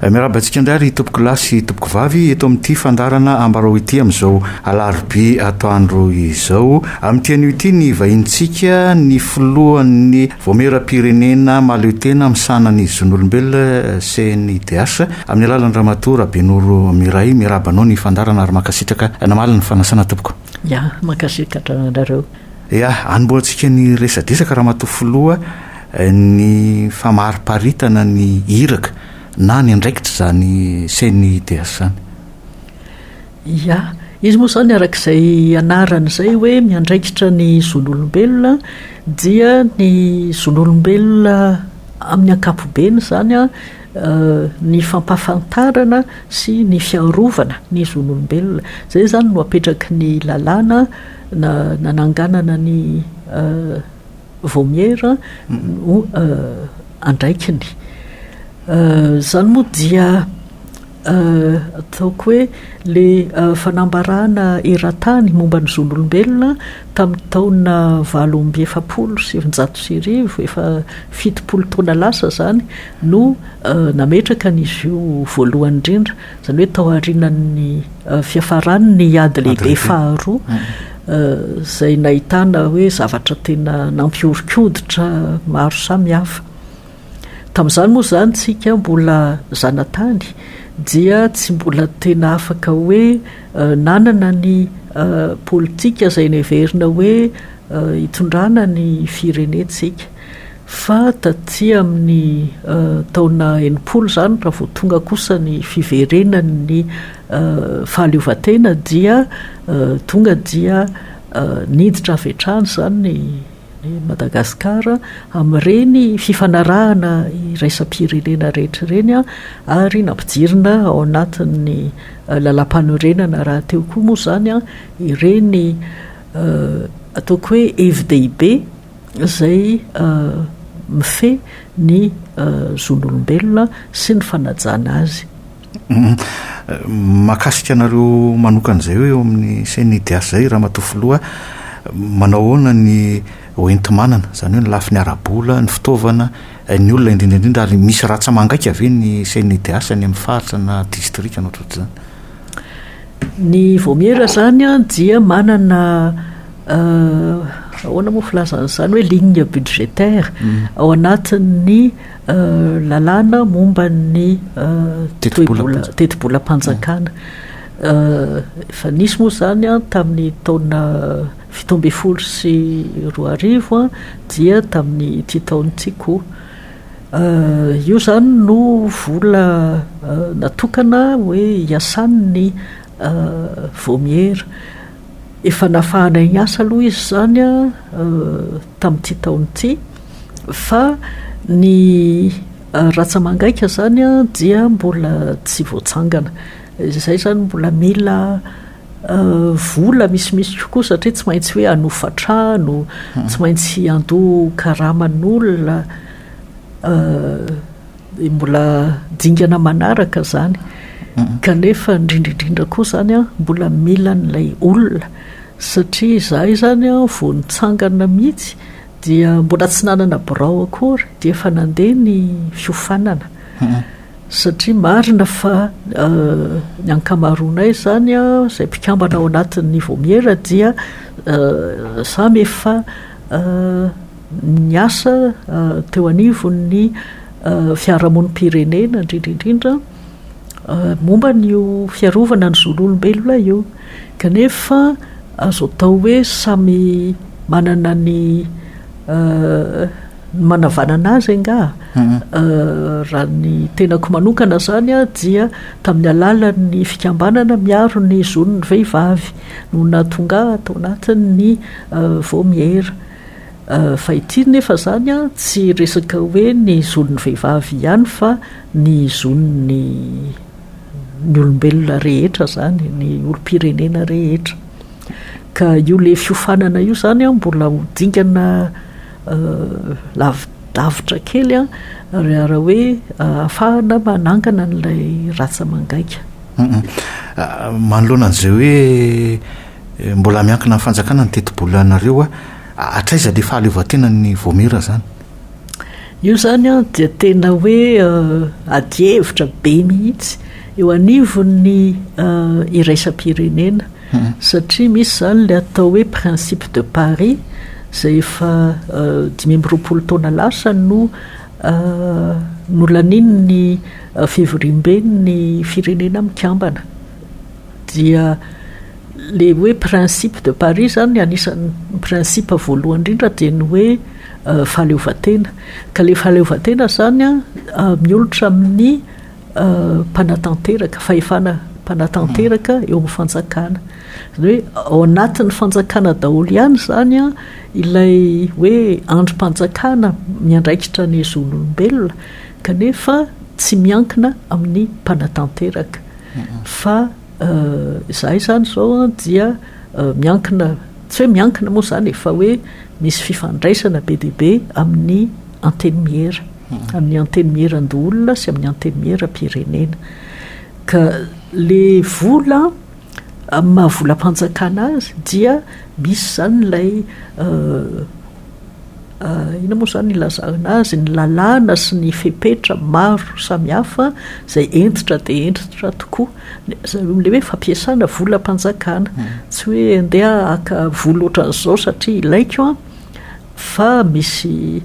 Miarahaba antsika indray ry tompoko lahy sy tompoko vavy eto amin'ity fandaharana Ambarao ity amin'izao alarobia atoandro izao. Amin'ity anio ity ny vahinintsika ny filohan'ny Vaomieram-pirenena mahaleo tena misahana ny zon'olombelona CNIDH amin'ny alalan'i Ramatoa Rabenoro Miray. Miarahaba anao ny fandaharana ary mankasitraka namaly ny fanasana tompoko. Ya, mankasitraka anareo. Ia, anombohantsika ny resadresaka Ramatoa Filoha ny famariparitana ny iraka na ny andraikitr izany CNIDH zany. Ia, izy moa izany araka izay anarany izay hoe miandraikitra ny zon'olombelona dia ny zon'olombelona amin'ny ankapobeny izany an, ny fampahafantarana sy ny fiarovana ny zon'olombelona. Izay izany no apetraky ny lalàna nananganana ny Vaomiera ho andraikiny. Izany moa dia. Ataoko hoe le fanambarana eran-tany momba ny zon'olombelona tamin'ny taona valo amby efapolo sy sivinjato sy arivo, efa fitopolo taona lasa izany no nametraka an'izy io voalohany indrindra, izany hoe tao aorianan'ny fiafaran'ny ady lehibe faharoa, izay nahitana hoe zavatra tena nampihoron-koditra maro samihafa. Tamin'izany moa izany tsika mbola zanatany dia tsy mbola tena afaka hoe nanana ny politika izay neverina hoe hitondrana ny firenentsika. Fa taty amin'ny taona enimpolo izany raha vao tonga kosa ny fiverenan'ny fahaleovantena dia tonga dia niditra avy hatrany izany ny I Madagasikara amin'ireny fifanarahana iraisam-pirenena rehetra ireny ary nampijirina ao anatin'ny Lalàmpanorenana rahateo koa moa izany ireny ataoko hoe hevi-dehibe izay mifehy ny zon'olombelona sy ny fanajana azy. Mahakasika anareo manokana izay hoe eo amin'ny CNIDH izay, Ramatoa Filoha, manao ahoana ny hoenti-manana, izany hoe ny lafiny ara-bola, ny fitaovana, ny olona indrindra indrindra ary misy ratsa-mangaika ve ny CNIDH any amin'ny faritra na distrika na ohatrohatr'izany? Ny Vaomiera izany dia manana ahoana moa filazana an'izany hoe ligne budgétaire ao anatin'ny Lalàna momba ny tetibolam-panjakana. Efa nisy moa izany tamin'ny taona fito ambin'ny folo sy roa arivo dia tamin'ity taona ity koa. Io izany no vola natokana hoe hiasan'ny vaomiera. Efa nafahanay niasa aloha izy izany tamin'ity taona ity fa ny ratsamangaika izany dia mbola tsy voatsangana. Izay izany mbola mila vola misimisy kokoa satria tsy maintsy hoe hanofa trano, tsy maintsy handoa karaman'olona. Dia mbola dingana manaraka izany, kanefa indrindra indrindra koa izany an, mbola mila an'ilay olona, satria izahay izany an, vao nitsangana mihitsy dia mbola tsy nanana birao akory, dia efa nandeha ny fiofanana, satria marina fa ny ankamaroanay izany an, izay mpikambana ao anatin'ny Vaomiera dia samy efa ny asa teo anivon'ny fiarahamonim-pirenena indrindra indrindra momba an'io fiarovana ny zon'olombelona io kanefa azo atao hoe samy manana ny ny manavanana azy angaha raha ny tenako manokana izany dia tamin'ny alalan'ny fikambanana miaro ny zon'ny vehivavy no nahatonga ahy tao anatin'ny vaomiera Fa ity nefa zany an, tsy resaka hoe ny zon'ny vehivavy ihany fa ny zon'ny ny olombelona rehetra zany, ny olom-pirenena rehetra. Ka io le fiofanana io zany an mbola ho dingana lavidavitra kely an, raha hoe ahafahana manangana an'ilay rantsa mangaika. Manoloana an'izay hoe Mbola miankina amin'ny fanjakana ny tetibolanareo a! hatraiza ilay fahaleovantenan'ny Vaomiera izany? Io izany an dia tena hoe adihevitra be mihitsy eo anivon'ny iraisam-pirenena satria misy izany ilay atao hoe principe de Paris izay efa dimy amby roapolo taona lasa no nolanian'ny fivoriamben'ny firenena mikambana. dia ilay hoe principe de Paris izany anisan'ny principe voalohany indrindra dia ny hoe fahaleovantena. Ka ilay fahaleovantena izany miolotra amin'ny mpanatanteraka, fahefana mpanatanteraka eo amin'ny fanjakana. Izany hoe ao anatin'ny fanjakana daholo ihany izany ilay hoe andrim-panjakana miandraikitra ny zon'olombelona Kanefa tsy miankina amin'ny mpanatanteraka fa izahay izany izao dia miankina, tsy hoe miankina moa izany e, fa hoe misy fifandraisana be dia be amin'ny antenimiera, amin'ny antenimieran-doholona sy amin'ny antenimieram-pirenena. Ka ilay vola. Amin'ny maha volam-panjakana azy dia misy izany ilay inona moa izany ilazana azy? ny lalàna sy ny fepetra maro samihafa izay hentitra dia hentitra tokoa. Ilay hoe fampiasana volam-panjakana. Tsy hoe andeha haka vola ohatran'izao satria ilaiko an! fa misy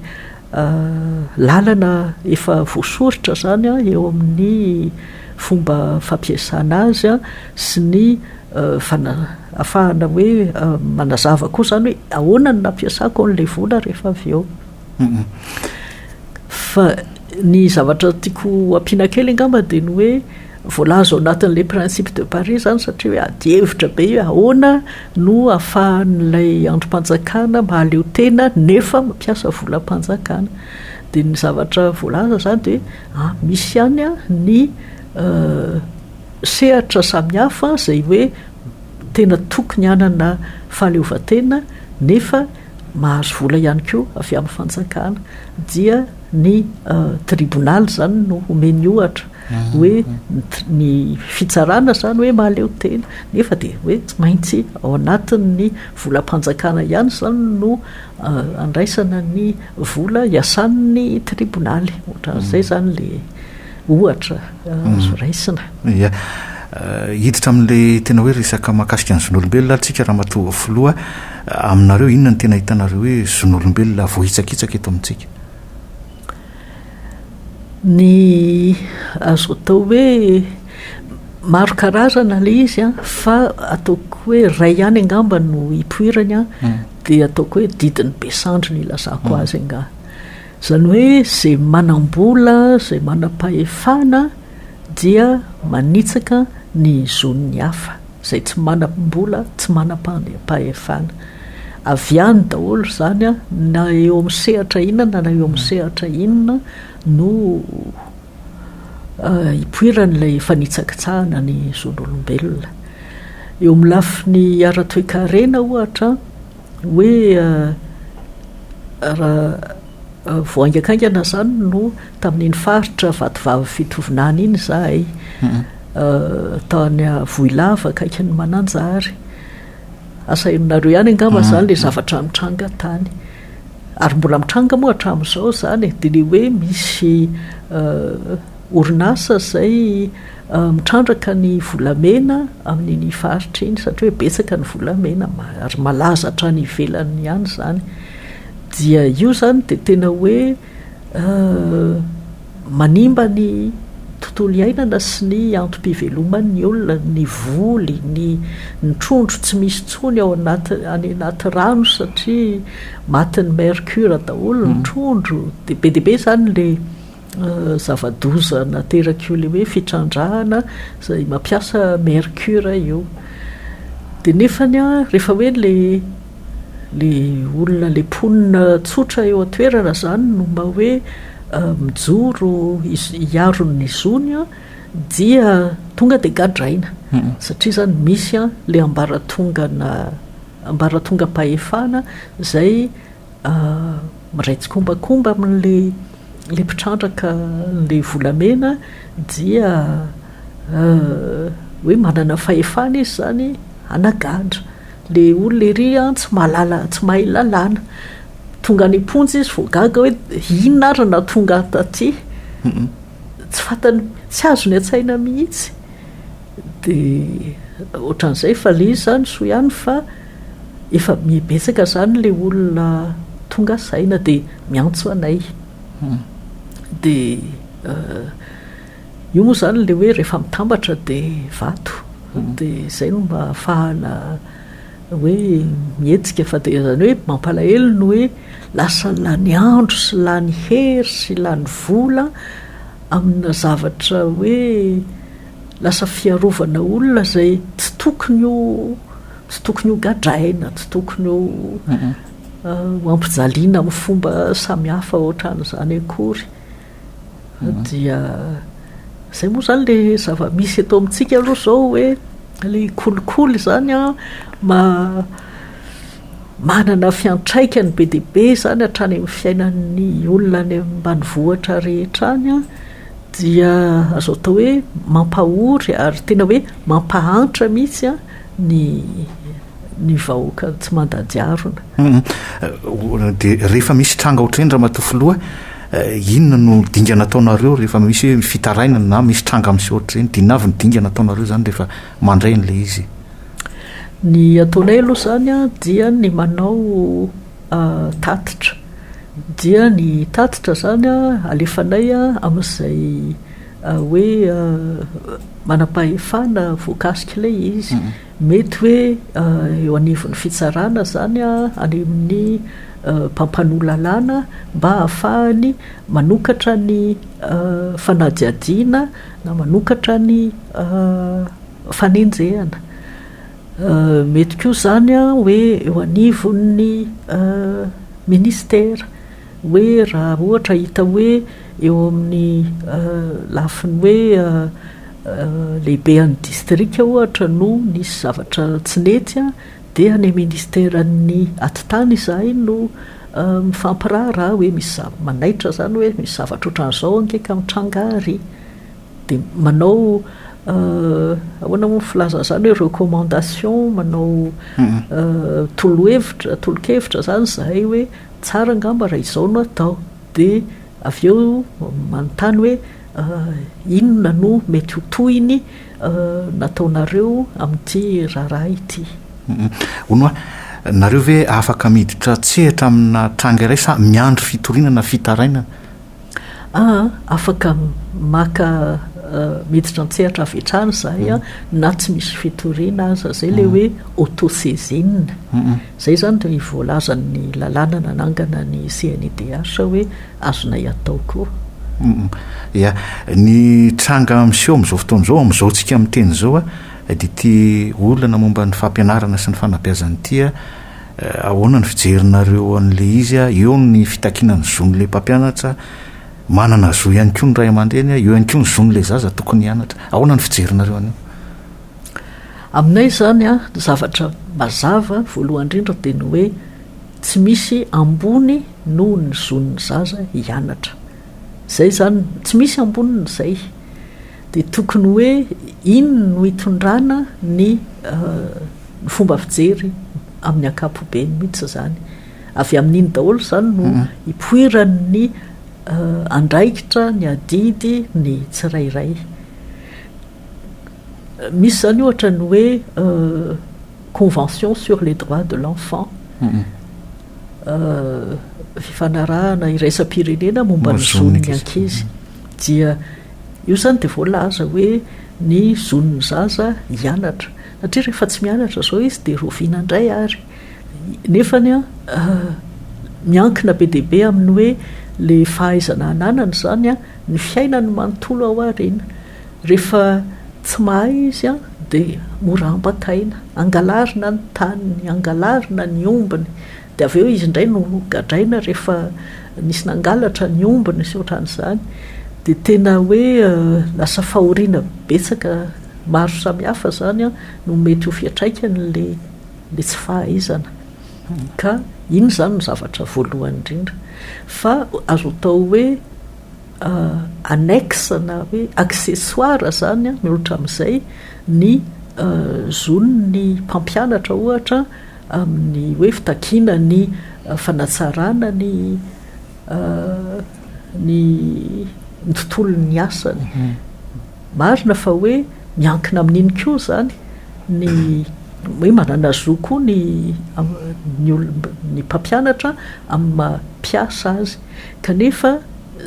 Lalana efa voasoritra izany eo amin'ny fomba fampiasana azy sy ny ahafahana hoe manazava koa izany hoe ahoana no nampiasako an'ilay vola rehefa avy eo. Fa ny zavatra tiako ampiana kely angamba dia ny hoe. Voalaza ao anatin'ilay Principes de Paris izany satria hoe adihevitra be hoe ahoana no ahafahan'ilay andrim-panjakana mahaleo tena nefa mampiasa volam-panjakana. Dia ny zavatra voalaza izany dia hoe misy ihany ny sehatra samihafa izay hoe tena tokony hanana fahaleovantena nefa mahazo vola ihany koa avy amin'ny fanjakana dia Ny tribonaly izany no omeny ohatra hoe ny fitsarana izany hoe mahaleo tena nefa dia hoe tsy maintsy ao anatin'ny volam-panjakana ihany izany no andraisana ny vola iasan'ny tribonaly. Ohatran'izay izany ilay ohatra azo raisina. Ia. Hiditra amin'ilay tena hoe resaka mahakasika ny zon'olombelona ary isika Ramatoa Filoha, aminareo inona no tena hitanareo hoe zon'olombelona voahitsakitsaka eto amintsika? Ny azo atao hoe maro karazana ilay izy an, fa ataoko hoe iray ihany angamba no ipoirany an, dia ataoko hoe didin'i Besandry no ilazako azy angaha. Izany hoe izay manam-bola, izay manam-pahefana dia manitsaka ny zon'ny hafa. Izay tsy manam-bola, tsy manam-pahefana. Avy any daholo izany, na eo amin'ny sehatra inona na eo amin'ny sehatra inona no ipoiran'ilay fanitsakitsahana ny zon'olombelona. Eo amin'ny lafiny ara-toekarena ohatra, hoe raha vao haingankaingana izany no tamin'iny faritra Vatovavy Fitovinany iny izahay. Tany Vohilava akaikin'ny Mananjary. Asa henonareo ihany angamba zany le zavatra nitranga tany. Ary mbola mitranga moa hatramin'izao izany e. Dia le hoe misy orinasa izay mitrandraka ny volamena amin'iny faritra iny satria hoe betsaka ny volamena ary malaza hatrany ivelany ihany izany. Dia io izany dia tena hoe Manimba ny tontolo iainana sy ny antom-piveloman' ny olona ny voly, ny ny trondro tsy misy intsony ao anaty any anaty rano satria matin'ny mercure daholo ny trondro, dia be dia be izany ilay zava-doza naterak'io ilay hoe fitrandrahana izay mampiasa mercure io. Dia nefany an, rehefa hoe ilay Le olona le mponina tsotra eo an-toerana zany no mba hoe mijoro hiaro ny zony an, dia tonga dia gadraina satria zany misy an le ambaratongana ambaratongam-pahefana zay miray tsikombakomba amin'le le mpitrandraka le volamena dia hoe manana fahefana izy zany hanagadra. Le olona ery an tsy mahalala tsy mahay lalàna. Tonga any am-ponja izy vao gaga hoe inona ary no nahatonga ahy taty. Tsy fantany tsy azony an-tsaina mihitsy. Dia ohatran'izay fa le izy izany soa ihany fa efa be betsaka izany le olona tonga saina dia miantso anay. Dia Io moa izany ilay hoe rehefa mitambatra dia vato, dia izay no mba ahafahana hoe mihetsika, fa dia izany hoe mampalahelo ny hoe lasa lany andro sy lany hery sy lany vola amina zavatra hoe lasa fiarovana olona izay tsy tokony ho tsy tokony ho gadraina, tsy tokony ho ho ampijaliana amin'ny fomba samihafa ohatran'izany akory. dia izay moa izany ilay zava-misy eto amintsika aloha izao hoe ilay kolikoly izany an ma manana fiantraikany be dia be izany hatrany amin'ny fiainan'ny olona any ambanivohitra rehetra any an dia azo atao hoe mampahory ary tena hoe mampahantra mihitsy an ny ny vahoaka tsy mandajarona. Dia rehefa misy tranga ohatr'ireny Ramatoa Filoha, inona no dingana ataonareo rehefa misy hoe fitarainana na misy tranga miseho ohatr'ireny? Dia inona avy ny dingana ataonareo izany rehefa mandray an'ilay izy? Ny ataonay aloha izany an, dia ny manao tatitra. Dia ny tatitra izany an, alefanay amin'izay hoe manam-pahefana voakasika ilay izy. Mety hoe eo anivon'ny fitsarana izany any amin'ny mpampanoa lalàna mba hahafahany manokatra ny fanadihadiana na manokatra ny fanenjehana. Mety koa izany hoe eo anivon'ny minisitera. hoe raha ohatra hita hoe eo amin'ny lafiny hoe lehibean'ny distrika ohatra no nisy zavatra tsy nety dia any ministeran'ny atitany izahay no mifampiraharaha hoe misy zavatra, manaitra izany hoe misy zavatra ohatran'izao ange ka mitranga ary dia manao ahoana moa ny filazana izany hoe recommandation manao tolo-hevitra, tolo-kevitra izany izahay hoe Tsara angamba raha izao no atao. Dia avy eo manontany hoe inona no mety ho tohiny nataonareo amin'ity raharaha ity. Hono hoa, nareo ve afaka miditra an-tsehatra amina tranga iray sa miandry fitoriana na fitarainana? Afaka maka miditra an-tsehatra avy hatrany izahay an, mm. na tsy misy fitoriana aza, izay ilay mm. hoe autosaisine. Mm. Izay izany dia voalazan'ny lalàna nanangana ny CNIDH hoe azonay atao koa. Ya, ny tranga miseho amin'izao fotoana izao, amin'izao tsika miteny izao, dia ity olana momba ny fampianarana sy ny fanabeazana ity Ahoana ny fijerinareo an'ilay izy? Eo ny fitakiana ny zon'ilay mpampianatra, manana zo ihany koa ny ray aman-dreny, eo ihany koa ny zon'ilay zaza tokony hianatra. Ahoana ny fijerinareo an'io? Aminay izany, ny zavatra mazava voalohany indrindra dia ny hoe tsy misy ambony noho ny zon'ny zaza hianatra. Izay izany, tsy misy amboniny izay. Dia tokony hoe inona no hitondrana ny fomba fijery amin'ny ankapobeny mihitsy izany. Avy amin'iny daholo izany no ipoiran'ny andraikitra, ny adidy, ny tsirairay. Misy izany ohatra ny hoe convention sur les droits de l'enfant, fifanarahana iraisam-pirenena momba ny zon'ny ankizy. dia io izany dia voalaza hoe ny zon'ny zaza hianatra satria rehefa tsy mianatra izao izy dia rovina indray ary nefa ny miankina be dia be amin'ny hoe le fahaizana ananany izany an ny fiainany manontolo ao aoriana rehefa tsy mahay izy an dia mora ambakaina angalarina ny taniny angalarina ny ombiny Dia avy eo izy indray no gadraina rehefa nisy nangalatra ny ombiny sy ohatran'izany, dia tena hoe lasa fahoriana betsaka maro samihafa izany no mety ho fiantraikan'ilay ilay tsy fahaizana. Ka iny izany no zavatra voalohany indrindra. Fa azo atao hoe annexe na hoe accessoire izany ny olon-tramizay ny zon'ny mpampianatra ohatra, amin'ny hoe fitakiana ny fanatsarana ny ny ny tontolon'ny asany. Marina fa hoe miankina amin'iny koa izany ny hoe manana zo koa ny ny olona ny mpampianatra amin'ny maha mpiasa azy. Kanefa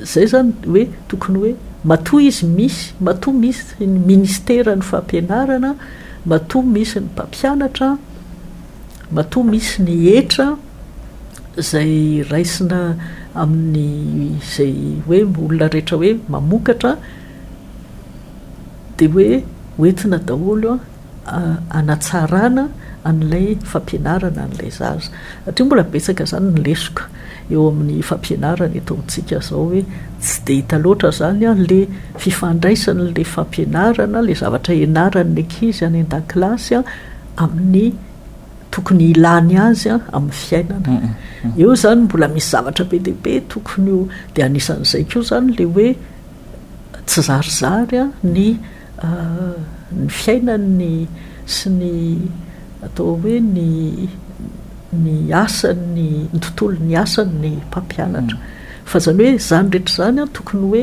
izay izany hoe tokony hoe matoa izy misy matoa misy ny ministeran'ny fampianarana, Matoa misy ny mpampianatra, matoa misy ny hetra izay raisina amin'izay hoe olona rehetra hoe mamokatra dia hoe hoentina daholo hanatsarana an'ilay fampianarana an'ilay zaza satria mbola betsaka izany ny lesoka eo amin'ny fampianarana eto amintsika izao hoe tsy dia hita loatra izany ilay fifandraisana ilay fampianarana, ilay zavatra hianaran'ny ankizy any an-dakilasy amin'ny tokony hilany azy amin'ny fiainana. Eo izany mbola misy zavatra be dia be tokony ho, dia anisan'izay koa izany ilay hoe tsy zarizary ny ny fiainany sy ny atao hoe ny ny asany, ny tontolon'ny asany ny mpampianatra. Fa izany hoe izany rehetra izany an, tokony hoe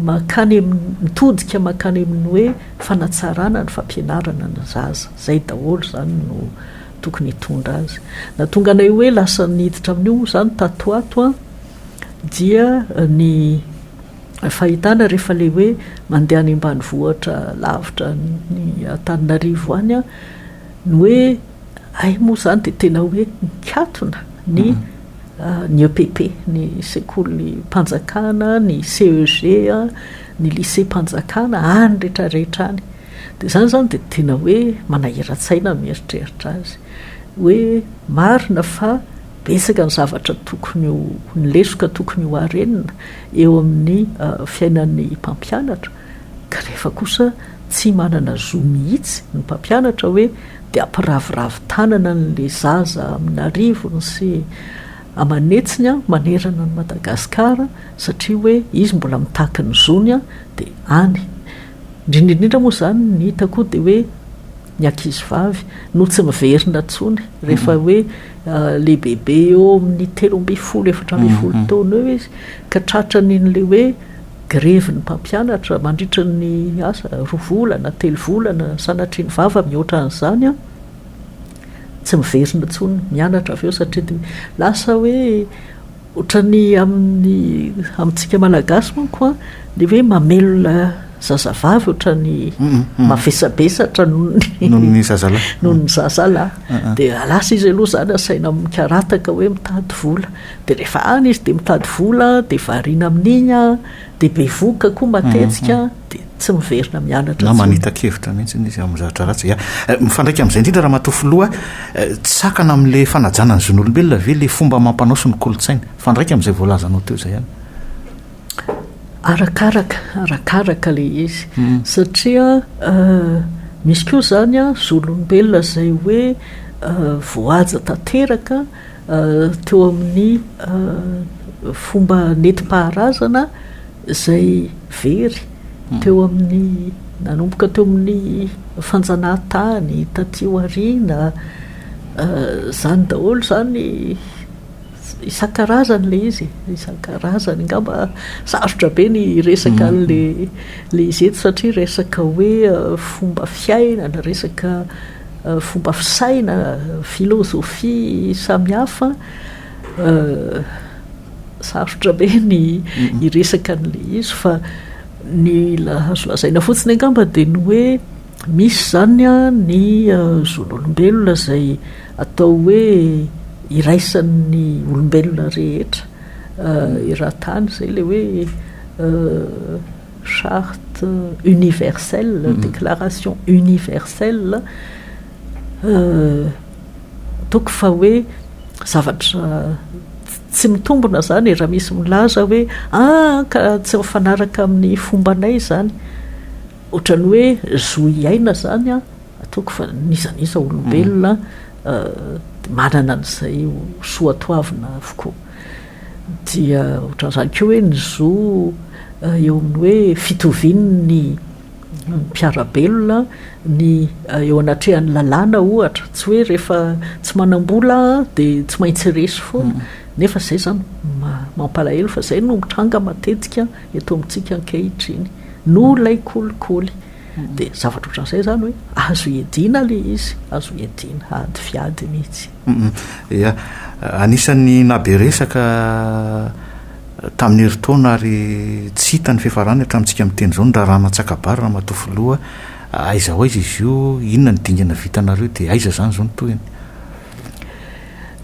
mankany amin'ny, mitodika mankany amin'ny hoe fanatsarana ny fampianarana ny zaza. Izay daholo izany no tokony hitondra azy. Nahatonga anay hoe lasa niditra amin'io moa izany tato ho ato an, dia ny. fahitana rehefa le hoe mandeha any ambanivohitra lavitra ny Antananarivo any a, ny hoe hay moa zany dia tena hoe mikatona ny mhm. ah, ny EPP, ny sekolim-panjakana, ny CEG, ny lycée-mpanjakana, any rehetrarehetra any. Dia izany izany dia tena hoe manahiran-tsaina mieritreritra azy. Hoe marina fa Betsaka ny zavatra tokony ho, ny lesoka tokony ho harenina eo amin'ny fiainan'ny mpampianatra kanefa kosa tsy manana zo mihitsy ny mpampianatra hoe dia ampiraviravy tanana an'ilay zaza amin'arivony sy aman'hetsiny manerana an'i Madagasikara satria hoe izy mbola mitaky ny zony dia any. Indrindra indrindra moa izany ny hitako dia hoe Ny ankizivavy no tsy miverina intsony rehefa hoe lehibebe eo amin'ny telo ambin'ny folo, efatra ambin'ny folo taona eo izy ka tratran' ilay hoe grevy ny mpampianatra mandritra ny asa roa volana, telo volana, sanatria ny vava mihoatra an'izany an! Tsy miverina intsony mianatra avy eo satria dia lasa hoe Ohatran'ny amin'ny amintsika Malagasy manko an, le hoe mamelona zazavavy ohatran'ny mavesabesatra noho ny noho ny zazalahy, noho ny zazalahy, dia lasa izy aloha izany asaina mikarataka hoe mitady vola, dia rehefa any izy dia mitady vola dia variana amin'iny an, dia bevoka koa matetika. dia tsy miverina mianatra intsony. Na manita-kevitra mihitsy izy amin'ny zavatra ratsy. Ya, eh, mifandraika amin'izay indrindra Ramatoa Filoha, eh, tsy sakana amin'ilay fanajana ny zon'olombelona ve ilay fomba amam-panao sy ny kolontsaina? Mifandraika amin'izay voalazanao teo izay ihany. Arakaraka, arakaraka ilay izy. Hmm. Satria eh, misy koa izany a, zon'olombelona izay hoe eh, voahaja tanteraka eh, teo amin'ny fomba nentim-paharazana, izay very teo amin'ny nanomboka teo amin'ny fanjanahantany taty aoriana, izany daholo izany, isan-karazany ilay izy e, isan-karazany. Angamba sarotra be ny hiresaka an'ilay izy eto satria resaka hoe fomba fiainana, resaka fomba fisaina, filôzôfia samihafa. Sarotra be ny hiresaka an'ilay izy fa ny azo lazaina fotsiny angamba dia ny hoe misy izany ny zon'olombelona izay atao hoe iraisan'ny olombelona rehetra eran-tany izay ilay hoe charte universelle, déclaration universelle. Ataoko fa hoe zavatra tsy mitombina izany raha misy milaza hoe ah ka tsy mifanaraka amin'ny fombanay izany, ohatran'ny hoe zo hiaina izany an, ataoko fa n'iza n'iza olombelona manana an'izay ho soatoavina avokoa. Dia ohatran'izany koa hoe ny zo eo amin'ny hoe fitovian'ny. mpiara-belona, ny eo anatrehan'ny lalàna ohatra, tsy hoe rehefa tsy manam-bola dia tsy maintsy resy foana, hmm. nefa izay izany mampalahelo fa izay no mitranga matetika eto amintsika ankehitriny, no ilay kolikoly. Hmm. Dia zavatra ohatran'izay izany hoe azo iadiana ilay izy, azo iadiana, ady fiady mihitsy. Ia. Anisan'ny nahabe resaka tamin'ny herintaona ary tsy hita ny fiafarany hatramintsika miteny izao ny raharaha Natsakabary Ramatoa Filoha. Aiza ho aiza izy io? Inona ny dingana vitanareo dia aiza izany izao ny tohiny?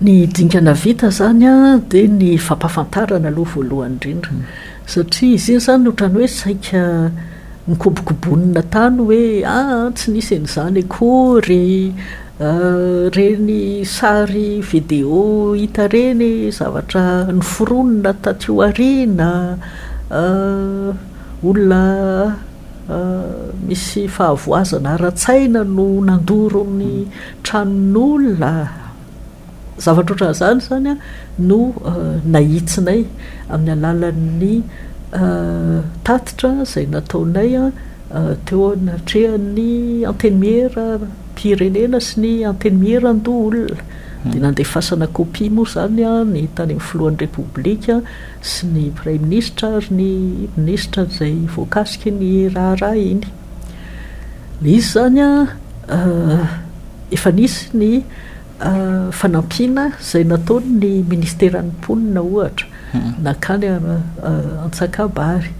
Ny dingana vita izany dia ny fampahafantarana aloha voalohany indrindra. Satria izy iny izany otrany hoe saika nikobokobonina tany hoe aa tsy nisy an'izany akory reny sary video hita reny zavatra noforonina taty aoriana olona misy fahavoazana ara-tsaina no nandoro ny tranon'olona Zavatra ohatran'izany izany no nahitsinay amin'ny alalan'ny tatitra izay nataonay teo anatrehan'ny Antenimieram-pirenena sy ny Antenimieran-doholona. Dia nandefasana kopia moa izany ny tany amin'ny Filohan'ny Repoblika sy ny Praiminisitra ary ny Minisitra izay voakasika iny raharaha iny. Ilay izy izany efa nisy ny Fanampiana izay nataon'ny Ministeran'ny Mponina, ohatra, nankany Antsakabary.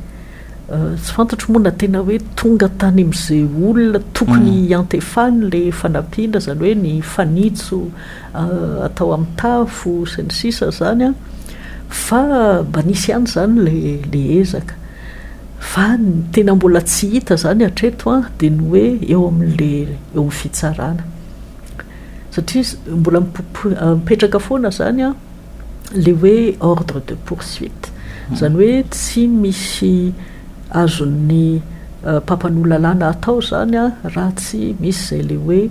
Tsy fantatro moa na tena hoe tonga tany amin'izay olona tokony hiantefany ilay fanampiana, izany hoe ny fanitso atao amin'ny tafo, sy ny sisa izany, fa mba nisy ihany izany ilay ezaka. Fa ny tena mbola tsy hita izany hatreto dia ny hoe eo amin'ilay, eo amin'ny fitsarana. satria mbola mipetraka foana izany an, ilay hoe ordre de poursuite, izany hoe tsy misy azon'ny mpampanoa lalàna atao izany an, raha tsy misy izay ilay hoe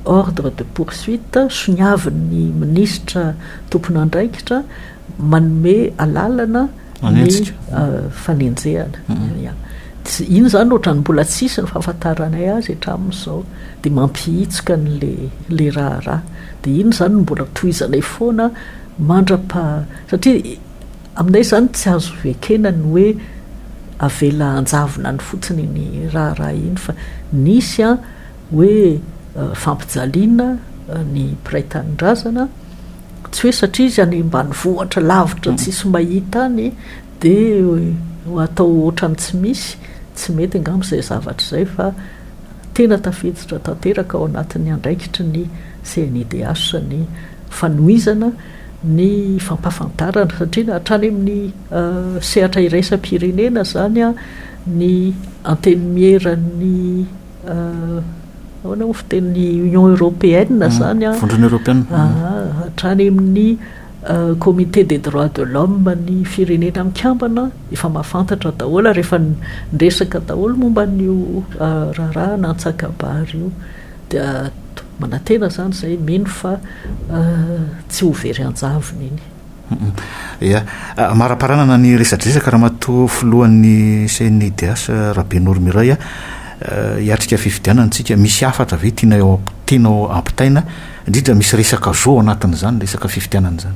ordre de poursuite soniavin'ny minisitra tompon'andraikitra manome alalana ny fanenjehana tsy iny zany ohatrany mbola tsisy ny fahafantaranay azy hatramin'izao dia mampihitsika n'le le raharaha dia iny zany no mbola tohizanay foana mandrapa satria aminay zany tsy azo ekena ny hoe avela anjavona any fotsiny ny raharaha iny fa nisy a hoe fampijaliana ny mpiray tanindrazana Tsy hoe satria izy any ambanivohitra lavitra tsisy mahita any dia atao ohatran'ny tsy misy, tsy mety angamba izay zavatra izay fa tena tafiditra tanteraka ao anatin'ny andraikitry ny CNIDH ny fanohizana ny fampahafantarana satria hatrany amin'ny sehatra iraisam-pirenena izany ny antenimieran'ny Ahoana moa fitenin'ny Union Européenne izany an? Vondrona Eoropeana. Hatrany amin'ny Comité des droits de l'homme ny firenena mikambana efa mahafantatra daholo ary efa niresaka daholo momba an'io raharaha antsakabary io. Dia manantena izany izahay mino fa tsy ho very an-javony iny. Ia. Amaraparanana ny resadresaka Ramatoa Filohan'ny CNIDH Rabenoro Miray a! hiatrika fifidianana isika, misy hafatra ve tianao tianao ampitaina? indrindra misy resaka zo ao anatin'izany resaka fifidianana izany.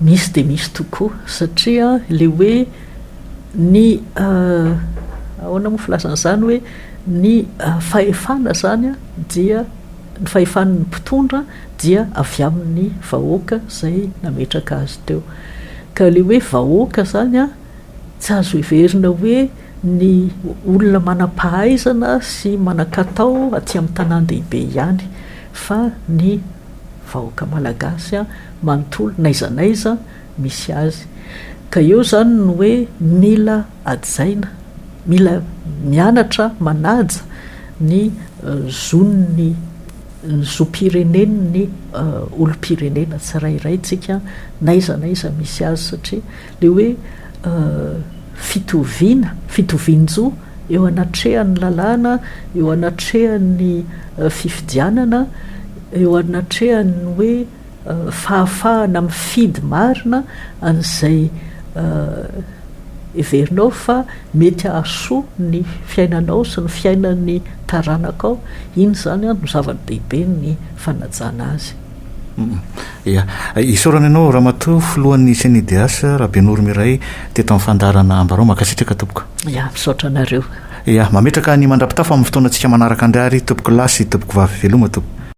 Misy dia misy tokoa satria ilay hoe ny ahoana moa filazana izany hoe ny fahefana izany dia Ny fahefan' ny mpitondra dia avy amin' ny vahoaka izay nametraka azy teo. Ka ilay hoe vahoaka izany tsy azo heverina hoe ny olona manam-pahaizana sy manan-katao aty amin' ny tanàn-dehibe ihany, fa ny vahoaka malagasy manontolo n'aiza n'aiza misy azy. Ka eo izany ny hoe mila hajaina. Mila mianatra manaja ny zon'ny ny zom-pirenen'ny olom-pirenena tsirairay tsika n'aiza n'aiza misy azy satria le hoe fitoviana, fitovian-jo eo anatrehan'ny lalàna, eo anatrehan'ny fifidianana, eo anatrehan'ny hoe fahafahana mifidy marina an'izay heverinao fa mety hahasoa ny fiainanao sy ny fiainan'ny taranakao, iny izany no zava-dehibe ny fanajana azy. Ia. Isaorana ianao Ramatoa Filohan'ny CNIDH, Rabenoromiray, teto amin'ny fandaharana Ambarao. Mankasitraka tompoko. Ia, misaotra anareo. Ia, mametraka ny mandrapitafa amin'ny fotoanantsika manaraka andry ary, Tompokolahy sy Tompokovavy. Veloma Tompoko.